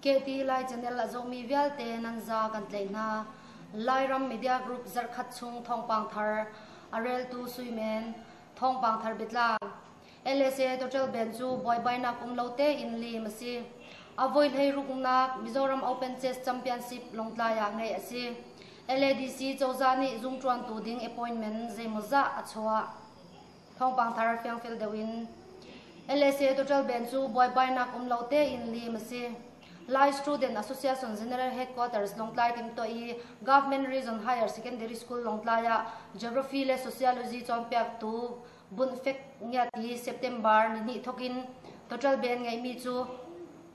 Kehti Lai Channel a zawmi vialte nan za kan tlei hna. Lairam Media Group zarkhat chung thawngpang thar a reltu suimen thawngpang thar bitlang LSA Total Band cu buaibainak um lo tein liim a si. A voi hleiruknak Mizoram Open Chess Championship Lawngtlai ah ngeih a si. LADC cozah nih zungṭuantu ding appointment zeimawzah a chuah. Thawngpang thar fiangfil deuh in LSA Total Band cu buaibainak um lo tein liim a si. Lai Student Association General Headquarters Lawngtlai timto i Government Region Higher Secondary School Lawngtlai ah Geography le Sociology cawnpiaktu Bunhfek ngiat hi September nihnih thawk in toṭalbe an ngeihmi cu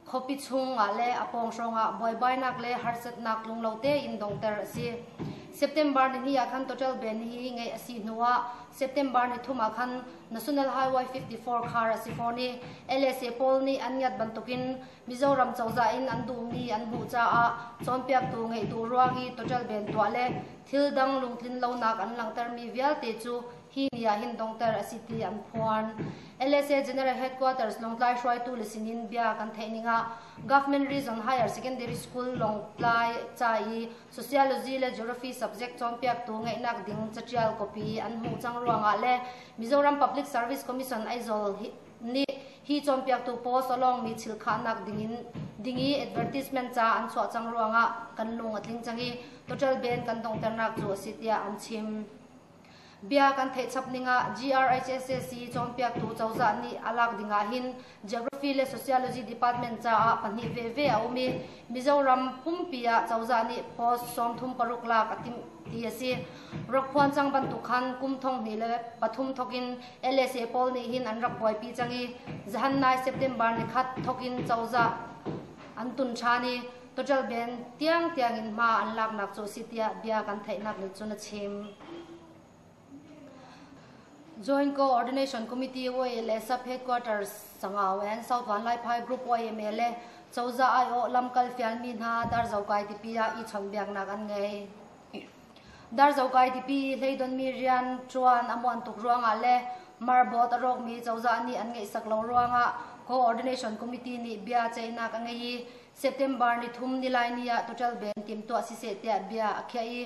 khuapi chungah le a pawng hrawngah buaibainak le harsatnak tlunglo tein donghter a si. September ni hnih ah khan toṭalbe ni hi ngeih a si hnuah September ni thum ah khan National Highway 54 khar a si fawn i LSA pawl nih an ngiat bantukin Mizoram cozah in an duhmi an hmuh caah cawnpiaktu ngeihtu ruang i toṭalbe tuah le thil dang lungtlin lonak an langhtermi vialte cu hi ni ah hin dongter a si ti an phuan. LSA General Headquarters Lawngtlai hruaitu le sinin bia kan theih ning ah Government Region Higher Secondary School Lawngtlai ca i Sociology le Geography subject cawnpiaktu ngeihnak ding catial copy an hmuh cang ruangah le Mizoram Public Service Commission Aizol hi nih hi cawnpiaktu post alongmi chilkhahnak dingin dingi advertisement ca an chuah cang ruangah kan lung a tling cang i total ben kan dongternak cu a si tiah an chim. Bia kan theih chap ning ah GRHSAC cawnpiaktu cozah nih a lak ding ah hin Geography le Sociology Department caah pahnih veve a um i Mizoram pumpi ah cozah nih post sawmthum paruk lak a timh ti a si. Rak phuan cang bantuk khan kum thong hnih le pathum thok in LSA pawl nih hin an rak buaipi cang i zahan nai September ni khat thok in cozah an tun ṭhan i Caṭal band tiang tiangin hma an laknak cu a si tiah bia kan theihnak nih cun a chim. Joint Co-ordination Committee YLS Headquarters Sangau and South Van Lai Phai Group YMLA cozah aiawh lamkal fialmi hna darzokai tipi ah i chawnhbiaknak an ngei. Darzokai tipi hleidonmi rian ṭuan a muan tuk ruangah le marbot a rawkmi cozah nih an ngeihsak lo ruangah Co-ordination Committee nih bia ceihnak a ngei i September ni thum nilaini ah tuṭal ben timtuah siseh tiah bia a khiah i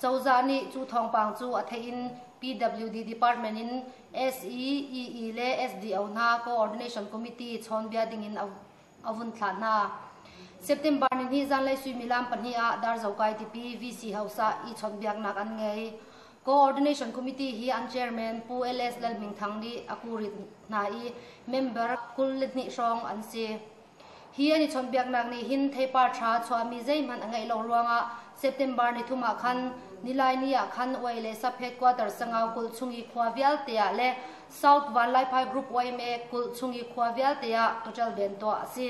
cozah nih cu thawngpang cu a theih in PWD department in SEEE le SDO hna coordination committee chawnbia dingin a vun thlah hna. September ni hnih zanlei suimilam pahnih ah Darzo kai tipi VC hausa i chawnbiaknak an ngei. Coordination Committee hi an chairman Pu LS Lalhming Thang nih a kurit hna i member kul le hnih hrawng an si. Hi an i chawnhbiaknak nih hin theipar ṭha chuahmi zeihmanh a ngeih lo ruangah September ni thum ah khan Nilaini ah khan Uai le Saphet quarter sangau kul chung i khua vialte ah le South Vanlaiphai Group YMA kul chung i khua vialte ah total ban tuah a si.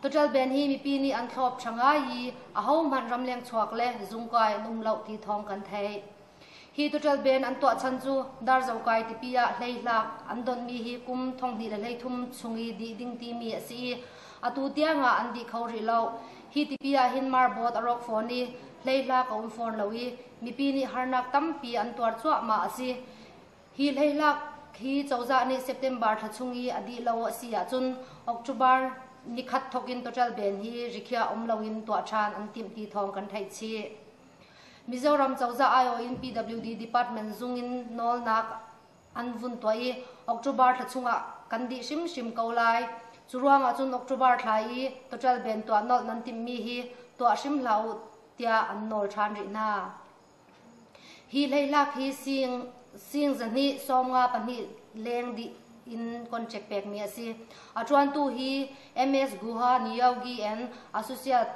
Total ban hi mipi nih an thlawp ṭha ngai i ahohmanh ramleng chuak le zungkai an um lo ti thawng kan theih. Hi tuṭal band an tuah chan cu Darzo kai tipi ah hleihlah an donhmi hi kum thonghnih le hleithum chung i dih ding timi a si i atu tiangah an dih kho rih lo. Hi tipi ah hin marboat a rawk fawn i hleihlah a um fawn lo i mipi nih harnak tampi an tuar cuahmah a si. Hi hleihlah hi cozah nih September thla chung i a dih lo a si ahcun October ni khat thawkin tuṭal band hi rikhiah um loin tuah ṭhan an timh ti thawng kan theih chih. Mizoram cozah aiawh in PWD department zung in nawlnak an vun tuah i October thla chungah kan dih hrimhrim ko lai. Cu ruangah cun October thla i total ben tuah nolh nan timhmi hi tuah hrim hlah u tiah an nawl ṭhan rih hna. Hi hleihlak hi sing, sing zahnih sawmnga pahnih leng dih in contract pekmi a si. A ṭuantu hi MS Guha Nyogi and Associate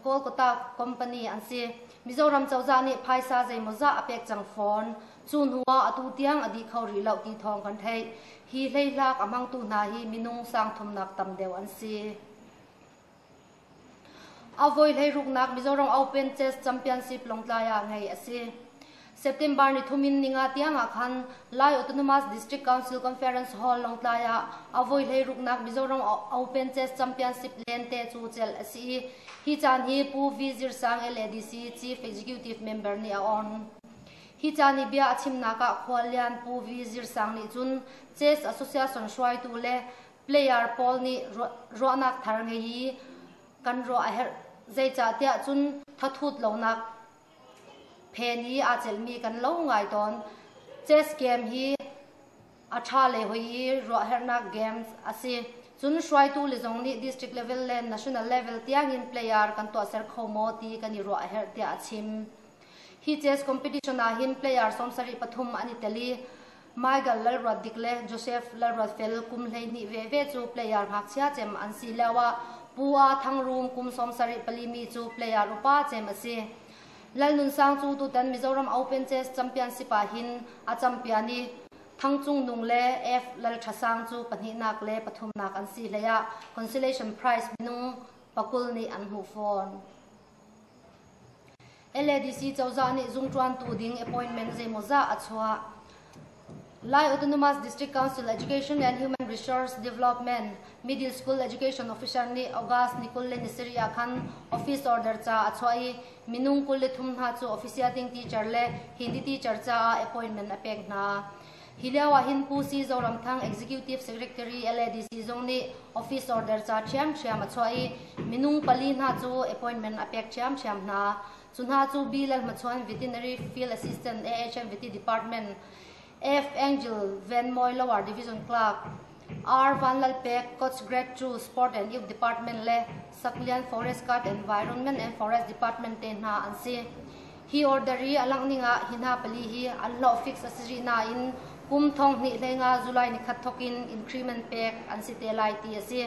Kolkata company an si. Mizoram cozah nih phaisa zeimawzah a pek cang fawn. Cu hnu ah atu tiang a dih kho rih lo ti thawng kan theih. Hi hleihlak a hmangtu hna hi minung sangthumnak tam deuh an si. Avoi hleiruknak Mizoram Open Chess Championship Lawngtlai ah ngeih a si. September ni thum in ninga tiang ah khan Lai Autonomous District Council Conference Hall Lawngtlai ah avoi hlei ruknak Mizoram Open Chess Championship lente cu celh a si i hi caan hi Pu V Zir Sang LADC Chief Executive Member nih a on. Hi caan i bia a chimnak ah khuallian Pu V Zir Sang nih cun Chess Association hruaitu le player pawl nih ruahnak thar ngei i kan ruah a herh zeicahtiah cun thathut lonak Phen hi aa celhmi kan lo ngai tawn. Chess game hi a ṭha le hoi i ruahherhnak games a si. Cun hruaitu le zong nih district level le national level tiangin player kan tuahser kho maw ti kan i ruahherh tiah a chim. Hi chess competition ah hin player sawmsarih pathum an i tel i Michael Lalruatdik le Joseph Lalruatfel kum hleihnih veve cu player ngakchia cem an si lioah Pu A Thang Rum kum sawmsarih pali mi cu player upa cem a si. Lal Nun Sang cu tutan Mizoram Open Chess Championship ah hin a champion i Thang Cung Nung le F Lal Ṭha Sang cu pahnihnak le pathumnak an si hleiah consolation prize minung pakul nih an hmuh fawn. LADC cozah nih zungṭuantu ding appointment zeimawzah a chuah. Lai Autonomous District Council Education and Human Resource Development Middle School Education Officer nih August ni kul le ni sarih ah khan office order ca a chuah i minung kul le thum hna cu office siating teacher le Hindi teacher caah appointment a pek hna. Hi lio ahhin Pu Si Zoramthang Executive Secretary LADC zong nih office order ca ṭhiamṭhiam a chuah i minung pali hna cu appointment a pek ṭhiamṭhiam hna. Cu hna cu B. Lalhmachuan Veterinary Field Assistant AHM Vety Department F. Angel Van Moy Lower Division Clerk, R. Vanlalpek Coach Grade II Sport and Youth Department le Saklian Forest Guard Environment and Forest Department te hna an si. Hi order i a langh ning ah hi hna pali hi an hlawh fix a si rih nain kum thong hnih hlei nga July ni khat thok in increment pek an si te lai ti a si.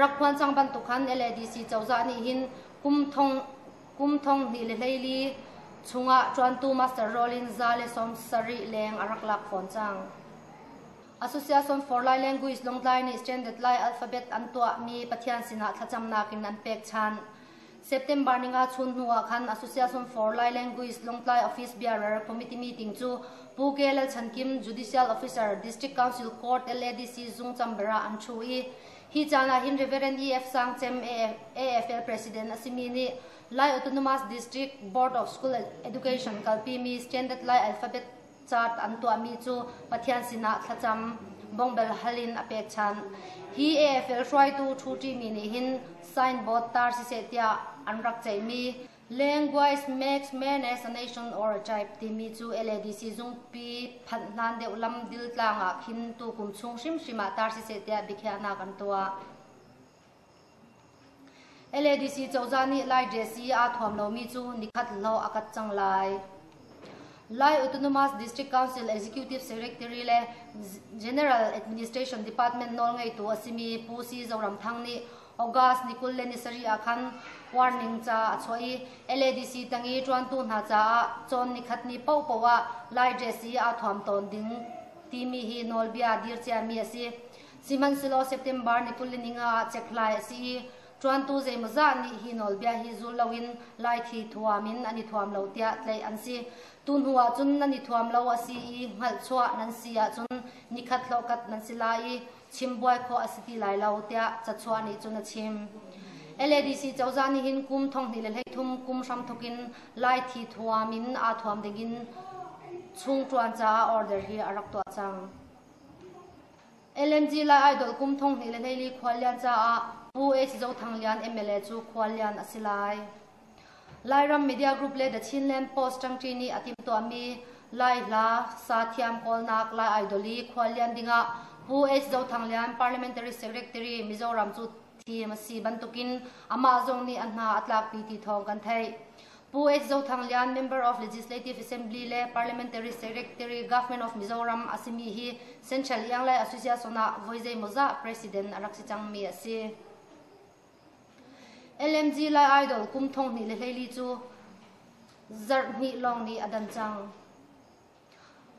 Rak phuan cang bantuk khan LADC cozah nih hin kum thong kum thong hnih le hleili chungah ṭuantu Master Rollin za le sawm sarih leng a rak lak fawn cang. Association for Lai Language Longtlai nih Standard Lai alphabet an tuahmi Pathian sinah thlacamnak in an pek than. September ni nga chun hnu ah khan Association for Lai Language Longtlai Office Bearer Committee meeting cu Pu K Lal Chan Kim Judicial Officer District Council Court LADC Zung Chambera an thu i hi caan ah hin Reverend EF Sang Chem AFL President a simi nih Lai Autonomous District Board of School Education kalpimi Standard Lai alphabet Cart an tuahmi cu Pathian sinah thlacam bongbel hal in a pek chan. Hi AFL hruaitu Thu Ṭimi nih hin signboard tar siseh tiah an rak ceihmi Language makes menace a nation or a tribe timi cu LADC zungpi phanh hnan deuh lam dil tlang ah khin tu kum chung hrimhrim ah tar siseh tiah biakhiahnak an tuah. LADC cozah nih Lai JC aa thuam lomi cu nikhat lo a kat cang lai. Lai Autonomous District Council Executive Secretary le General Administration Department nawlngeitu a simi Pu Si Zoram Thang nih August ni kul le ni sarih ah khan warning ca a chuah i LADC tang i ṭuantu hna caah cawn nikhat ni paohpaoh ah Lai JC aa thuam tawn ding timi hi nawlbia dir ciami a si. Sihmanhsehlaw September ni kul le ni nga ah cekhhlai a si i ṭuantu zeimawzah nih hi nawlbia hi zul loin laithi thuam in an i thuam lo tiah tlaih an si. Tu hnu ah cun nan i thuam lo a si i hngalhchuah nan si ahcun ni khat hlawkat nan si lai i chimbuai khawh a si ti lai lo tiah cachuah nih cun a chim. LADC cozah nih hin kum thonghnih le hleithum kum hram thawk in laithi thuam in aa thuam dingin chung ṭuan caah order hi a rak tuah cang. LNG Lai idol kum thonghnih le hleili khuallian caah Pu H Zo Thang Lian MLA cu khuallian a si lai. Lairam media group le The Chinland Post ṭangṭi nih a timhtuahmi Lai hla, sa thiam kawlnak Lai idol i khuallian dingah Pu H Zo Thang Lian Parliamentary Secretary Mizoram cu thim a si bantukin amah zong nih a hna a tlakpi ti thawng kan theih. Pu H. Zothang Lian, Member of Legislative Assembly le Parliamentary Secretary, Government of Mizoram a simi hi Central Ianglai Association ah voi zeimawzah President a rak si cangmi a si. LMG Lai Idol kum thong hnih le hleili cu zarh hnih lawng nih a dan cang.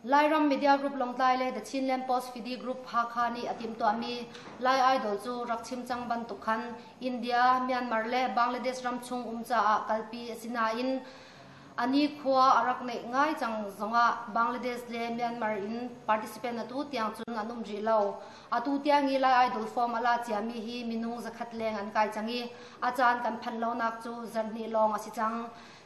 Lairam media group Lawngtlai le The Chinland Post Fidi Group Hakha nih a timhtuahmi Lai Idol cu rak chim cang bantuk khan India, Myanmar le Bangladesh ram chung um caah kalpi a si nain a nikhua a rak neih ngai cang zongah Bangladesh le Myanmar in participant atu tiang cun an um rih lo. Atu tiang i Lai Idol form a la ciami hi minung zakhat leng an kai cang i a caan kan phanh lonak cu zarhhnih lawng a si cang.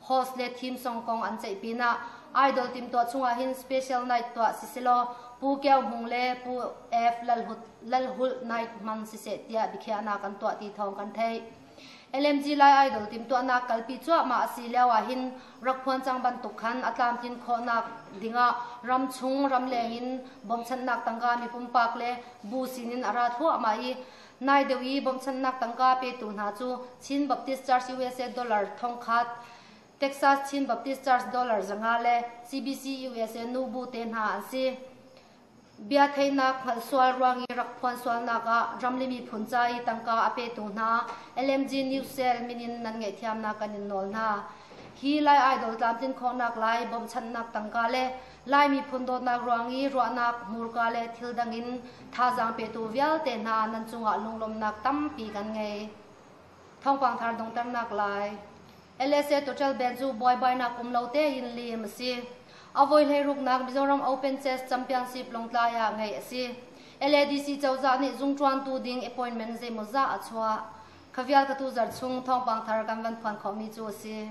host le theme song kong an ceih pinah idol timtuah chungah hin special night tuah si selaw Pu Kyaw Hmung le Pu F Lalhut Lalhulh night hman si se tiah biakhiahnak kan tuah ti thawng kan theih LMG Lai Idol timtuahnak kalpi cuahmah a si lio ahhin rak phuan cang bantuk khan a tlamtlin khawhnak dingah ramchung ramleng in bongchannak tangka mi pumpak le bu sinin a ra thluahmah i Nai deuh i bawmchannak tangka petu hna cu Chin Baptist Church USA dollar thongkhat, Texas Chin Baptist Church dollar zanga le CBC USA nubu te hna an si. Bia theihnak hngalh sual ruang i rak phuan sualnak ah ramli miphun ca i tangka a petu hna LMG News Cell min in nan ngaihthiamnak kan in nawl hna. Hi Lai Idol tlamtlin khawhnak lai bawmchannak tangka le Lai miphun dawtnak ruang i ruahnak, hmurka le thil dang in thazaang petu vialte hna nan cungah lunglawmhnak tampi kan ngei. Thawngpang thar dongternak lai. LSA Total Benzu buaibainak um lo tein liim a si. Avoi hleiruknak Mizoram Open Chess Championship Longtlai ah ngeih a si. LADC cozah nih zungṭuantu ding appointment zeimawzah a chuah. Khavial katu zarh chung thawngpang thar kan van phuan khawhmi cu a si.